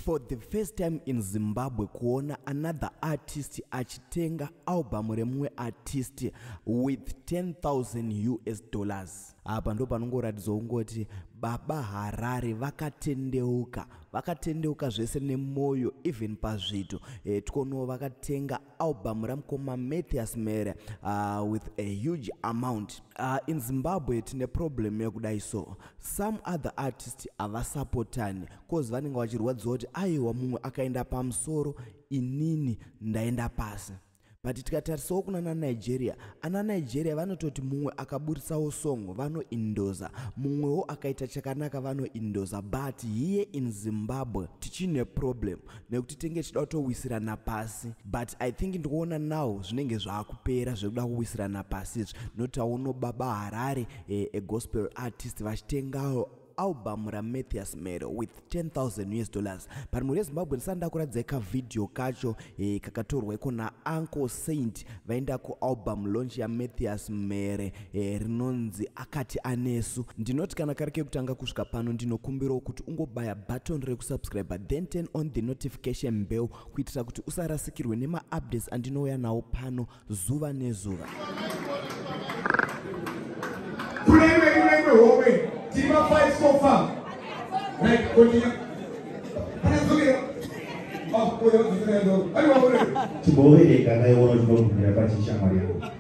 for the first time in zimbabwe kuona another artist achitenga album remumwe artist with 10000 us dollars apa ndo panongoratidzwa kungoti baba harare vakatendeuka vakatendeuka zvese nemwoyo even pazvito e, eh, tikono vakatenga album ramukoma mathias mere uh, with a huge amount uh, in zimbabwe tine problem yekudai so some other artist havasapotani cause vanenge vachirwadziwa kuti aiwa mumwe akaenda pamusoro inini ndaenda pasi but tikatarisawo kuna nanigeria ana nigeria vanototi mumwe akaburitsawo song vanoindoza mumwewo akaita chakanaka vanoindoza but here in zimbabwe tichine problem nekuti tenge tichida kutowisirana pasi but i think ndikuona now zvinenge zvaakupera zvekuda kuwisirana pasi izvi notauno baba harare eh, egospel artist vachitengawo album ramathias mero with 10000 us dollars but mhuri yezimbabwe ndisati ndakuratidza kavhidhiyo kacho eh, kakatorwa iko nauncle saint vaenda kualbum launch yamathias mere e, rinonzi akati anesu ndinoti kana kari kekutanga kusvika pano ndinokumbirawo kuti ungobaya button rekusubscribe then turn on the notification mbeu kuitira kuti usarasikirwe nemaupdates andinouya nawo pano zuva nezuva Chibowe, kana iwono chinobvumira pachishamwari yangu.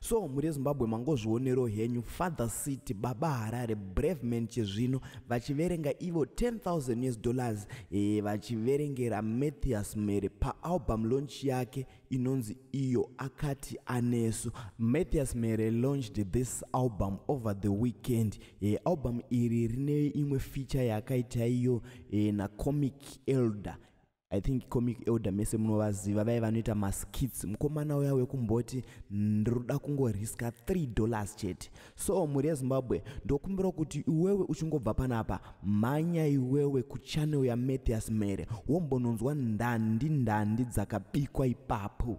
so muri ezimbabwe mangozvionero henyu father city baba harare brave man chezvino vachiverenga ivo 10000 us dollars e, vachiverengera mathias mhere paalbum launch yake inonzi iyo akati anesu mathias mhere launched this album over the weekend e, album iri rine imwe feature yaakaita iyo e, nacomic elder i think comic elder mese munovaziva vaive vanoita maskits mukomana uya wekumboti ndinoda kungoriska 3 dollars chete so mhuri yezimbabwe ndokumbira kuti iwewe uchingobva panapa mhanya iwewe kuchanel yamathias mere wombononzwa ndandi ndandi dzakabikwa ipapo